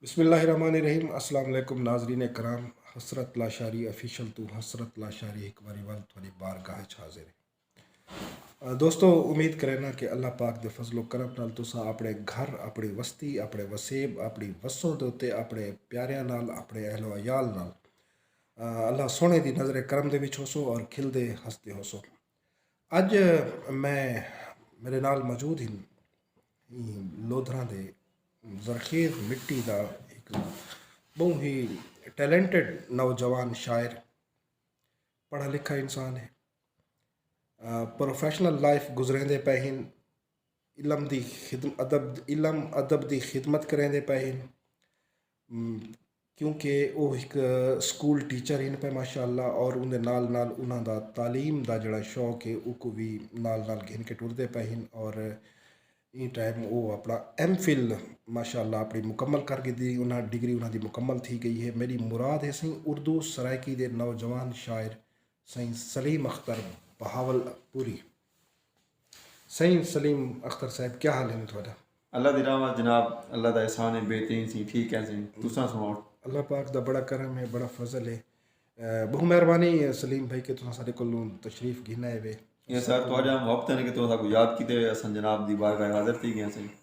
بسم اللہ الرحمن الرحیم السلام علیکم ناظرین کرام حسرت لاشاری افیشل تو حسرت لاشاری ایک باری وال تھوڑی بارگاہ چھ حاضر ہے دوستو امید کرینا کہ اللہ پاک دے فضل و کرم نال تسا اپنے گھر اپنی وستی اپنے وسیب اپنی وسوں دے اتے اپنے پیاریاں نال اپنے اہل و عیال نال اللہ سونے دی نظر کرم دے وچ ہوسو اور کھل دے ہس دے ہوسو اج میں میرے نال موجود ہن لودھراں دے زرخیز مٹی دا ایک بہوں ہی ٹیلنٹڈ نوجوان شاعر پڑھا لکھا انسان ہے پروفیشنل لائف گزریں دے پہ ہن علم دی خدم ادب علم ادب دی خدمت کریں دے پہ ہن کیونکہ او ہک سکول ٹیچر ہن پئے ماشاء اللہ اور اوندے نال نال انہاں دا تعلیم دا جیڑھا شوق ہے اوکوں وی نال نال گھن کے ٹردے پئے ہن اور ایں ٹائم او اپنا ایم فل ماشاء اللہ اپنی مکمل کر گھدی انہاں ڈگری انہاں دی مکمل تھی گئی ہے میڈی مراد ہے سائیں اردو سرائیکی دے نوجوان شاعر سائیں سلیم اختر بہاول پوری سئیں سلیم اختر صاحب کیا حال ہن تہاڈا؟ اللہ دی راہ وچ جناب اللہ دا احسان ہے بہترین سیں ٹھیک ہے سیں تساں سنڑاؤ۔ اللہ پاک دا بڑا کرم ہے بڑا فضل ہے بہوں مہربانی سلیم بھائی کہ تساں ساڈے کولوں تشریف گھن آئے وے۔ اے سر تہاڈا ہم وقت ہے کہ تساں ساکوں یاد کیتے وے اساں جناب دی بارگاہ حاضر تھی گئے سیں۔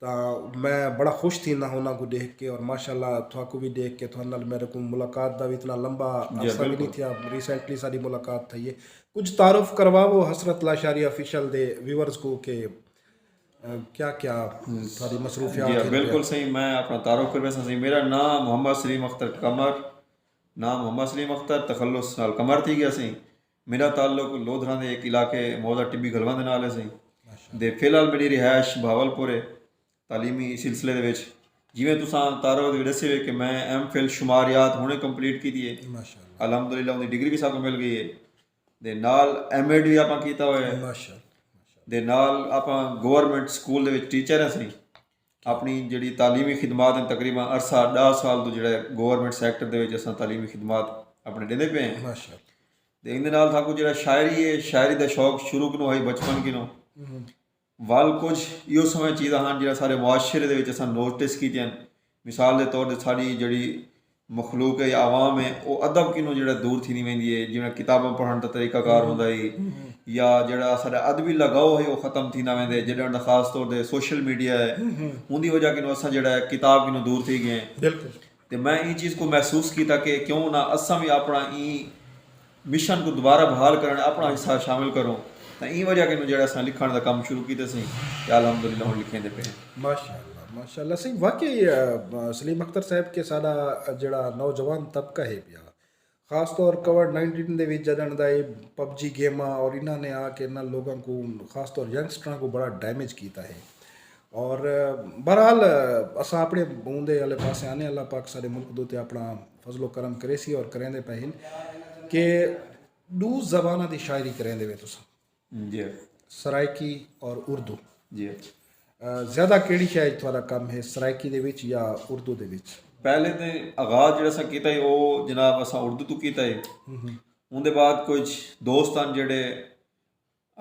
تاں میں بڑا خوش تھیندا ہاں انہاں کوں ڈیکھ کے اور ماشاء اللہ تھاکوں وی ڈیکھ کے تھاڈے نال میرے کوں ملاقات دا وی اتنا لمبا عرصہ وی نی تھیا ریسنٹلی ساڈی ملاقات تھئی ہے کچھ تعارف کرواوو حسرت لاشاری آفیشل دے ویورز کوں کہ کیا کیا تھاری مصروفیات جی بالکل صحیح میں اپنا تعارف کر ویسا صحیح میرا نام محمد سلیم اختر قمر نام محمد سلیم اختر تخلص نال قمر تھی گیا سی میݙا تعلق لودھراں دے ہک علاقے موضہ ٹبی گھلواں دے نال ہے سئیں دے فی الحال میݙی رہائش بہاولپور ہے تعلیمی سلسلے دے وچ جیویں تساں تعارف دے وچ ݙسے ہوئے کہ میں ایم فل شماریات ہݨے کمپلیٹ کیتی ہے الحمدللہ اوندی ڈگری وی ساکوں مل گئی ہے دے نال ایم ایڈ وی آپاں کیتا ہوئے دے نال آپاں گورنمنٹ سکول دے وچ ٹیچر ہیں سئیں اپݨی جیڑھی تعلیمی خدمات ہن تقریبا عرصہ ݙاہ سال توں جیڑھا گورنمنٹ سیکٹر دے وچ اساں تعلیمی خدمات اپݨے ݙیندے پئے ہیں تے ایندے نال ساکوں جیڑھا شاعری ہے شاعری دا شوق شروع کنوں ہئی بچپن کنوں ول کچھ ایہو سمے چیزاں ہن جیڑھا سارے معاشرے دے وچ اساں نوٹس کیتیاں مثال دے طور تے ساݙی جیڑھی مخلوق اے یا عوام اے او ادب کنوں جیڑھا دور تھیندی ویندی اے جیویں کتاباں پڑھݨ دا طریقہ کار ہوندا ہئی یا جیڑھا اساݙا ادبی لگاؤ ہئی او ختم تھیندا ویندا اے جݙاں دا خاص طور تے سوشل میڈیا اے اوندی وجہ کنوں اساں جیڑھا اے کتاب کنوں دور تھی ڳئے ہیں تے میں ایں چیز کوں محسوس کیتا کہ کیوں نہ اساں وی آپݨا ایں مشن کوں دوبارہ بحال کرݨ اچ اپݨا حصہ شامل کروں تاں ایں وجہ کنوں جیڑھے اساں لکھݨ دا کم شروع کیتے سئیں تے الحمد للہ ہݨ لکھیندے پئے ہیں۔ ماشاء اللہ ماشاء اللہ سئیں واقعی سلیم اختر صاحب کہ ساݙا جیڑھا نوجوان طبقہ ہے پیا خاص طور کووڈ نائنٹین دے وچ جݙݨ دا اے پب جی گیماں اور انہاں نے آ کے انہاں لوگاں کوں خاص طور ینگسٹراں کوں بڑا ڈیمیج کیتا ہے اور بہرحال اساں اپݨے اوندے آلے پاسے آنے اللہ پاک ساݙے ملک دے اتے اپݨا فضل و کرم کرے سی اور کریندے پئے ہن کہ ڈو زباناں دی شاعری کریندے وے تساں جی سرائیکی اور اردو جی زیادہ کیڑی شاعری تھوڑا کم ہے سرائیکی دے وچ یا اردو دے وچ پہلے تے آغاز جڑا سا کیتا ہے او جناب اسا اردو تو کیتا ہے اون دے بعد کچھ دوستان جڑے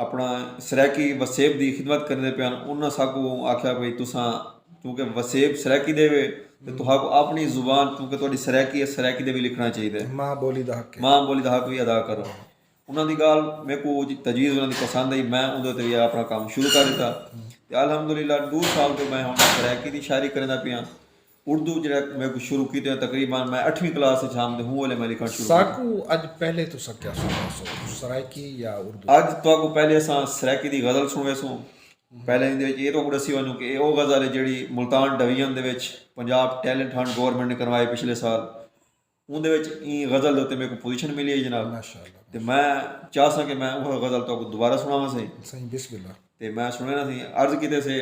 اپݨا سرائیکی وسیب دی خدمت کریندے پئے ہن انہاں ساکوں آکھیا بھئی تساں چونکہ وسیب سرائیکی دے وے تے تہاکوں اپݨی زبان چونکہ تہاݙی سرائیکی ہے سرائیکی دے وی لکھݨا چاہیدا ہے ماں ٻولی دا حق ہے ماں ٻولی دا حق وی ادا کرو انہاں دی ڳالھ میکوں تجویز انہاں دی پسند آئی میں اوندے تے وی اپݨا کم شروع کر ݙتا تے الحمدللہ ݙو سال توں میں ہݨ سرائیکی دی شاعری کریندا پیاں اردو جیہڑا میکوں شروع کیتے ہوئے تقریبا میں اٹھویں کلاس اچ ہم تے ہوں ویلے میں لکھݨ شروع کیتے۔ ساکوں اج پہلے تساں کیا سݨدا سو سرائیکی یا اردو؟ اج تہاکوں پہلے اساں سرائیکی دی غزل سݨویسوں۔ پہلے ایندے وچ اے تہاکوں ݙسی ونڄوں کہ اے او غزل ہے جیہڑی ملتان ڈویژن دے وچ پنجاب ٹیلنٹ ہنٹ گورنمنٹ نے کروائی پچھلے سال۔ اوندے وچ ایں غزل دے اتے میکوں پوزیشن ملی ہے جناب۔ تے میں چاہساں کہ میں اوہے غزل تہاکوں دوبارہ سݨاواں سئیں۔ سئیں بسم اللہ۔ تے میں سݨینا سئیں عرض کیتے سے۔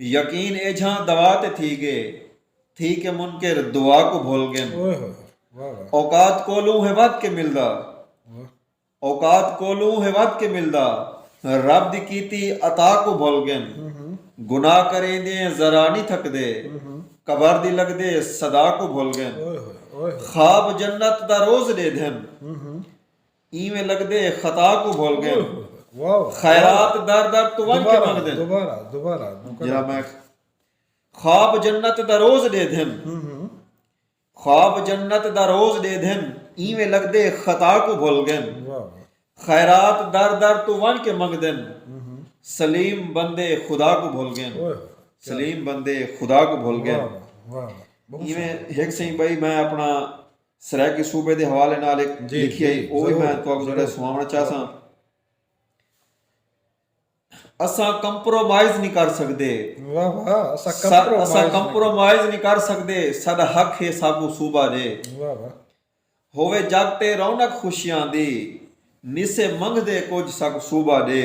یقین ایجھاں دوا تے تھی گئے تھی کہ منکر دعا کوں بھل گن اوقات کولوں ہے ودھ کے ملدا اوقات کولوں ہے ودھ کے ملدا رب دی کیتی عطا کوں بھل گن گناہ کریندے ذرا نی تھکدے قبر دی لگدے صدا کوں بھل گن خواب جنت دا روز ڈیدھن اینویں لگدے اے خطا کوں بھل گئن خیرات در در توں ونج کے منگدن جیڑھا میں خواب جنت دا روز ڈے دھن خواب جنت دا روز ڈے دھن اینویں لگدے اے خطا کوں بھل گئن خیرات در در توں ونج کے منگدن سلیم بندے خدا کوں بھل گئن سلیم بندے خدا کوں بھل گئن ایویں ہک سئیں بھائی میں اپنا سرائیکی صوبے دے حوالے نال ہک لکھی ہئی او وی میں تہاکوں ذرا سنواوݨ چاہساں۔ اساں کمپرومائز نی کر سڳدے۔ اساں کمپرومائز نی کر سڳدے ساݙا حق ہے ساکوں صوبہ ڄے۔ ہووے جڳ تے رونق خوشیاں دی نسے منگھدے کجھ ساکوں صوبہ ڄے۔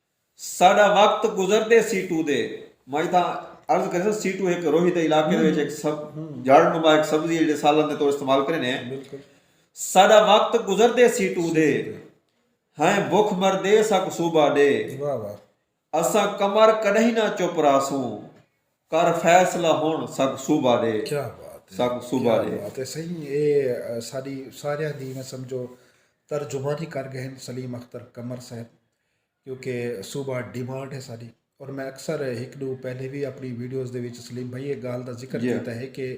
ساڈا وقت گزردے سی ٹو دے مائی تاں عرض کرے سا سی ٹو ہک روہی دے علاقے دے وچ ہک سب جھاڑ نما ہک سبزی ہے جڑے سالن دے طور استعمال کرے نے ساڈا وقت گزردے سی ٹو دے ہیں بکھ مردے ساکو صوبہ ڈے اساں کمر کڈہیں نہ چپ رہسوں کر فیصلہ ہن ساکو صوبہ ڈے ساکو صوبہ ڈے تے سہی اے ساڈی ساریاں دی میں سمجھو ترجمانی کر گئے ہیں سلیم اختر کمر صاحب کیونکہ صوبہ ڈیمانڈ ہے ساری اور میں اکثر ایک دو پہلے بھی اپنی ویڈیوز دے وچ سلیم بھائی ایک گال دا ذکر جی۔ کیتا ہے کہ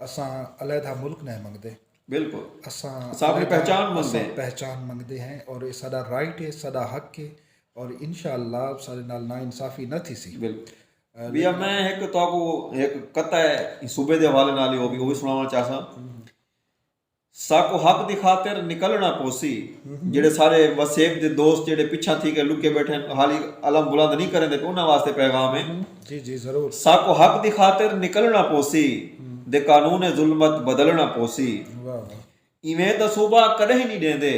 اساں علیحدہ ملک نہ منگدے بالکل اساں اساں اپنی علیحدہ- پہچان منگدے اساں ہیں۔ پہچان منگدے ہیں اور یہ ساڈا رائٹ ہے ساڈا حق ہے اور انشاءاللہ سارے نال نا انصافی نہ تھی سی بالکل بیا میں ایک تو کو ایک قطع ہے صوبے دے حوالے نال ہی وہ بھی وہ بھی سناونا چاہساں ساکوں حق دی خاطر نکلنڑاں پوسی۔ جیڑھے سارے وسیب دے دوست جیڑھے پچھاں تھی کے لکے بیٹھے ہن حالی علم بلند نی کریندے پے انہاں واسطے پیغام ہے۔ ساکوں حق دی خاطر نکلنڑاں پوسی دے قانون ظلمت بدلنڑاں پوسی۔ ایویں تاں صوبہ کڈہیں نی ڈیندے۔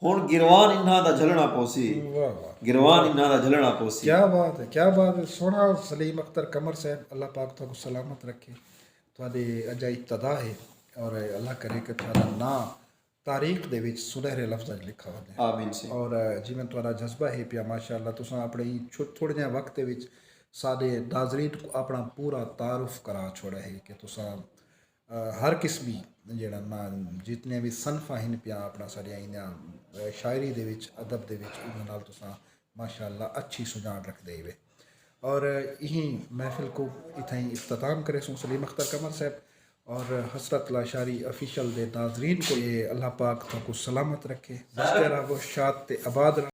ہݨ گروان انہاں دا جھلݨا پوسی۔ گروان انہاں دا جھلݨا پوسی۔ کیا بات ہے کیا بات ہے سونا سلیم اختر قمر صاحب اللہ پاک تہاکوں سلامت رکھے تہاڈی اجا ابتدا ہے اور اللہ کرے کہ تہاڈا نا تاریخ دے وچ سنہرے لفظاں وچ لکھا ونجے آمین سی اور جیویں تہاڈا جذبہ ہے پیا ماشاءاللہ تساں اپنے تھوڑے جہاں وقت دے وچ سارے ناظرین کو اپنا پورا تعارف کرا چھوڑا ہے کہ تساں ہر قسمی جیڑھا نا جتنیاں وی صنفاں ہن پیاں اپنا ساڈیاں انہاں شاعری دے وچ ادب دے وچ انہاں نال تساں ماشاء اللہ اچھی سنجان رکھدے ہیوے اور ایں محفل کو اتھاں ہی اختتام کرے سوں سلیم اختر قمر صاحب اور حسرت لاشاری افیشل دے ناظرین کو اللہ پاک تو کو سلامت رکھے مستر آگو شاد تے آباد رکھے